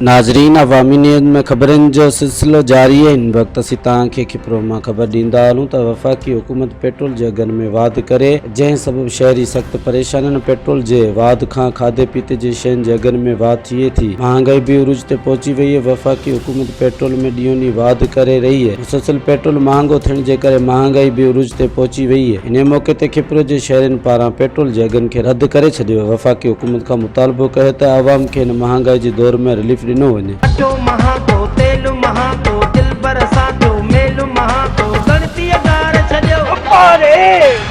ناظرين عوامي نيوز ۾ خبرن جو سلسلو جاري آهي ان وقت اسين توهان کي کپرو مان خبر ڏيندا هلون ته وفاقي حڪومت پيٽرول جي اگهن ۾ واڌ ڪري جنهن سبب شهري سخت پريشان آهن پيٽرول جي واڌ کان کاڌي پيتي جي شين جي اگهن ۾ واڌ ٿئي ٿي مهانگائي به عروج تي پهچي وئي آهي وفاقي حڪومت پيٽرول ۾ ڏينهون ڏينهن واڌ ڪري رهي مسلسل پيٽرول مهانگو ٿيڻ جي ڪري مهانگائي به عروج تي پهچي وئي اهي انهي موقعي تي کپرو جي شهرين پاران پيٽرول جي اگهن کي رد ڪري ڇڏيو ويو وفاقي حڪومت کان مطالبو ڪيو ته عوام کي هن مهانگائي جي دور ۾ رليف ڏنو وڃي. اٽو مهانگو تيل مهانگو دلبر سان ٿيو ميل مهانگو ڳڻتي اگهار ڇڏيو. اپاري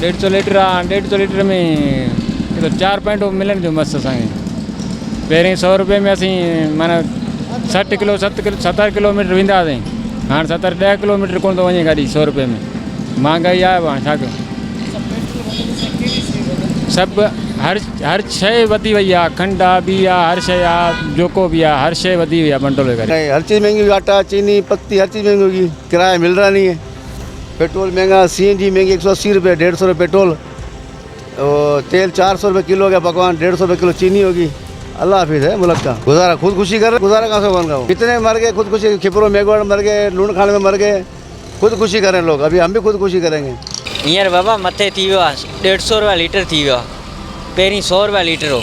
ڏيڍ سئو ليٽر آ ڏيڍ سئو ليٽر ۾ ڪيڏو چار پوائنٽون ملن ٿيون مس اسان کي پهرين سئو روپئي ۾ اسين معنيٰ سٺ ڪلو ست ڪلو ستر ڪلوميٽر ويندا هئاسين هاڻ ستر ڏهه ڪلوميٽر ڪونه ٿو وڃي گاڏي سئو روپئي ۾ مهانگائي آهي هاڻ ڇا ڪيون سڀ هر هر شيء وڌي وئي آ کنڊ آ بي آ هر شيء آ جوڪو بي آ هر شيء وڌي وئي آ منٽولي ڪري هر چيز مهنگي آٽا چيني پتي هر چيز مهنگي ڪرايا مل رها نهي پيٽرول مهنگا، سي اين جي مهنگي هڪ سؤ اسي روپيه، ڏيڍ سؤ روپيه پيٽرول او تيل چار سؤ روپيه ڪلو هو گيا پڪوان ڏيڍ سؤ روپيه ڪلو چيني هو گي الله حفيظ هي ملڪ ڪا گذارا خود خوشي ڪر گذارا ڪا سو ڪون ڪا ڪتني مر گئي خود خوشي کپرو ميگهواڙ مر گئي لوڻ کاڻ ۾ مر گئي خود خوشي ڪرين لوگ ابهي هم به خود خوشي ڪرين گي. هينئر بابا مٿي ٿي ويو آهي ڏيڍ سؤ روپيا ليٽر ٿي ويو آهي پهرين سؤ روپيا ليٽر هو.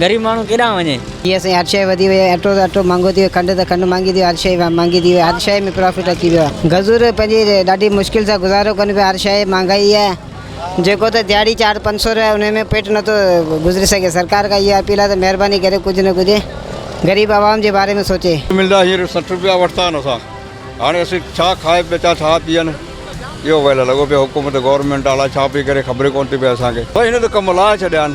غريب ماڻهو ڪيڏانهن وڃي؟ جي سائين هر شيء وڌي وئي آهي اٽو ته اٽو مهانگو ٿي ويو کنڊ ته کنڊ مهانگي ٿي وئي هر شيء مهانگي ٿي وئي هر شيء ۾ پرافٽ اچي ويو آهي غزور پنهنجي ڏاڍي مشڪل سان گذارو ڪن پيا هر شيء مهانگائي آهي جيڪو ته دهاڙي چار پنج سو روپيا انهي ۾ پيٽ نٿو گذري سگهي سرڪار کان اهو اپيل آهي ته مهرباني ڪري ڪجهه نه ڪجهه غريب عوام جي باري ۾ سوچي. ملدا هينئر سٺ روپيا ورتا آهن اسان هاڻي اسين ڇا کائي پيتا ڇا پيئن اهو ويل لڳو پيو حڪومت گورنمينٽ الاء ڇا پئي ڪري خبر ئي ڪونه ٿي پئي اسان کي بس هن ته ڪم لاهي ڇڏيا آهن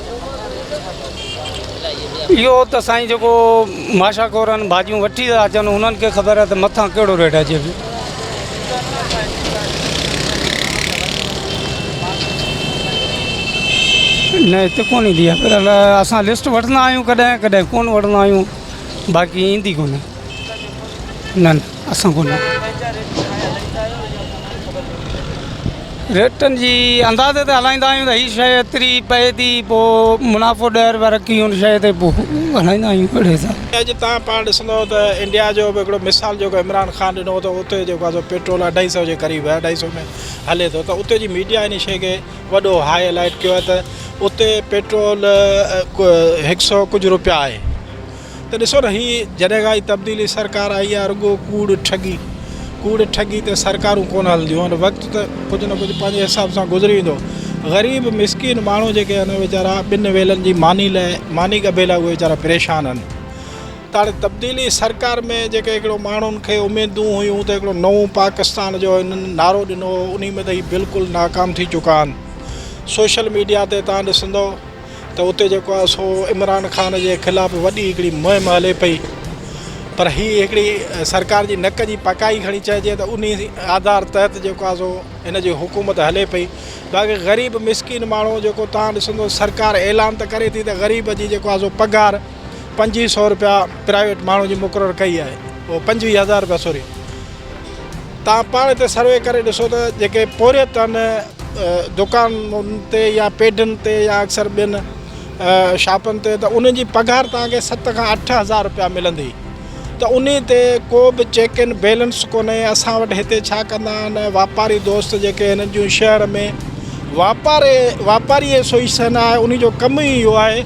اهو ته سائين جيڪو ماشا کورن ڀاڄيون وٺي ٿا اچن انهن کي خبر آهي ته مٿان ڪهڙو ريٽ اچي پيو نه هتي ڪونه ايندي آهي پر اسان لسٽ وٺندا آهيون ڪڏهن ڪڏهن ڪونه وٺندا آهيون باقي ايندي ڪونه نه نه اسان ڪونه ريٽن جي اندازي تي هلائيندا آهيون هي شي ايتري پئي ٿي پوء منافعو ڏهه روپيا رکي ان شي تي پوء هلائيندا آهيون اهڙي حساب سان اڄ تان پاڻ ڏسندو ته انڊيا جو به هڪڙو مثال جيڪو عمران خان ڏنو ته اتي جيڪو آهي پيٽرول اڍائي سئو جي قريب آهي اڍائي سئو ۾ هلي ٿو ته اتي جي ميڊيا ان شي کي وڏو هاء لائٽ ڪيو آهي ته اتي پيٽرول هڪ سئو ڪجهه روپيا آهي ته ڏسو نه هي جڏهن کان هي تبديلي سرڪار آئي آهي رڳو ڪوڙ ٺڳي ڪوڙ ٺڳي تي سرڪارون ڪونه هلنديون آهن وقت ته ڪجهه نه ڪجهه پنهنجي حساب سان گذري ويندو غريب مسڪين ماڻهو جيڪي آهن ويچارا ٻن ويلن جي ماني لاء ماني ڳڀي لاء اهي ويچارا پريشان آهن ته هاڻي تبديلي سرڪار ۾ جيڪي هڪڙو ماڻهن کي اميدون هيون ته هڪڙو نئون پاڪستان جو هنن نعرو ڏنو هو انهي ۾ ته هي بلڪل ناڪام ٿي چڪا آهن سوشل ميڊيا تي تان ڏسندو ته اتي جيڪو آهي سو عمران خان جي خلاف وڏي هڪڙي مهم هلي پئي پر هي هڪڙي سرڪار جي نڪ جي پڪائي کڻي چئجي ته انهي آڌار تحت جيڪو آهي سو هن جي حڪومت هلي پئي باقي غريب مسڪين ماڻهو جيڪو تان ڏسندو سرڪار اعلان ته ڪري ٿي ته غريب جي جيڪو آهي سو پگهار پنجويهه سو روپيا پرائيويٽ ماڻهو جي مقرر ڪئي آهي پنجويهه هزار روپيا سوري توهان پاڻ هتي سروي ڪري ڏسو ته جيڪي پورهيت آهن دڪانن تي يا پيڊن تي يا اڪثر ٻين شاپن تي ته انهن جي پگهار توهان کي ست کان اٺ هزار روپيا ملندي ته انهي تي ڪو به چيڪ ان بيلنس ڪونهي اسان وٽ هتي ڇا ڪندا آهن واپاري دوست جيڪي هنن جون شهر ۾ واپاري واپاري ايسوئيسن آهي انهي جو ڪم ئي اهو آهي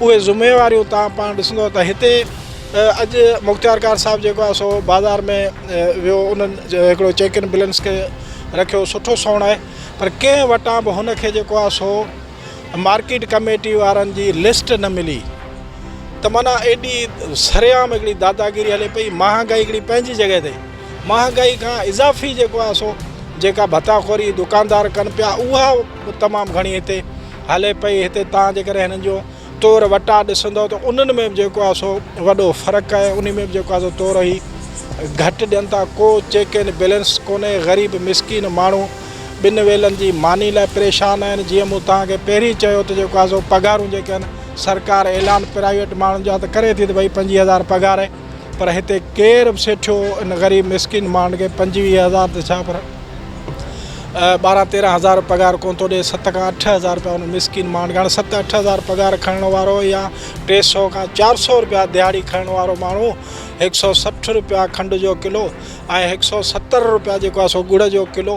اهي ذميواريون تان پاڻ ڏسندو ته هتي اڄ مختيار ڪار صاحب جيڪو آهي سو بازار ۾ ويو انهن هڪڙو چيڪ ان بلينس کي رکيو سٺو سوڻ آهي پر ڪنهن وٽان به هن کي جيڪو آهي سو مارڪيٽ ڪميٽي وارن جي لسٽ نه ملي ته معنيٰ ايڏي سرعام هڪڙي داداگيري هلي پئي مهانگائي هڪڙي پنهنجي جڳهه تي مهانگائي کان اضافي جيڪو آهي سو جيڪا ڀتا خوري دڪاندار ڪن پيا اها تمام گهڻي هتي هلي پئي هتي تان جي ڪري هنن جو طور وٽا ڏسندو ته انهن ۾ به جيڪو آهي سو وڏو فرق آهي انهي ۾ به جيڪو آهي سو طور هي گهٽ ڏين ٿا ڪو چيڪ اينڊ بيلنس ڪونهي غريب مسڪين ماڻهو ٻن ويلن جي ماني لاء پريشان آهن جيئن مون توهان کي پهرين چيو ته جيڪو آهي سو پگهارون جيڪي آهن سرڪار اعلان پرائيويٽ ماڻهن جا ته ڪري ٿي ته ڀئي پنجويهه هزار پگهار پر هتي ڪير به سيٺيو ان غريب مسڪين ماڻهن کي پنجويهه هزار ته ڇا پر ٻارهن تيرهن هزار پگهار ڪونه ٿو ڏئي ست کان اٺ هزار رپيا ان مسڪين ماڻهن کي هاڻي ست اٺ هزار پگهار کڻڻ وارو يا ٽي سؤ کان چار سؤ رپيا دهاڙي کڻڻ وارو ماڻهو هڪ سؤ سٺ رپيا کنڊ جو ڪلو ۽ هڪ سؤ ستر رپيا جيڪو آهي سو ڳڙ جو ڪلو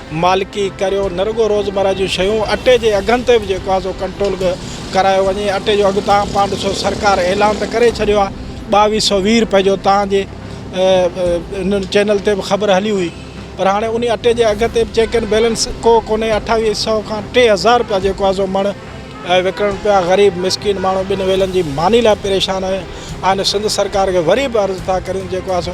مالڪي ڪريو نه رڳو روزمره جون شيون اٽي جي اگهن تي به جيڪو آهي سو ڪنٽرول ڪرايو وڃي اٽي جو اگهه تان پاڻ ڏسو سرڪار اعلان ته ڪري ڇڏيو آهي ٻاويهه سو ويهه روپئي جو تان جي انهن چينل تي به خبر هلي هئي پر هاڻي انهي اٽي جي اگهه تي به چيڪ اينڊ بيلنس ڪو ڪونهي اٺاويهه سو کان ٽي هزار روپيا جيڪو آهي سو مڻ وڪڻڻ پيا غريب مسڪين ماڻهو ٻن ويلن جي ماني لاء پريشان آهن سنڌ سرڪار کي وري به عرض ٿا ڪريون جيڪو آهي سو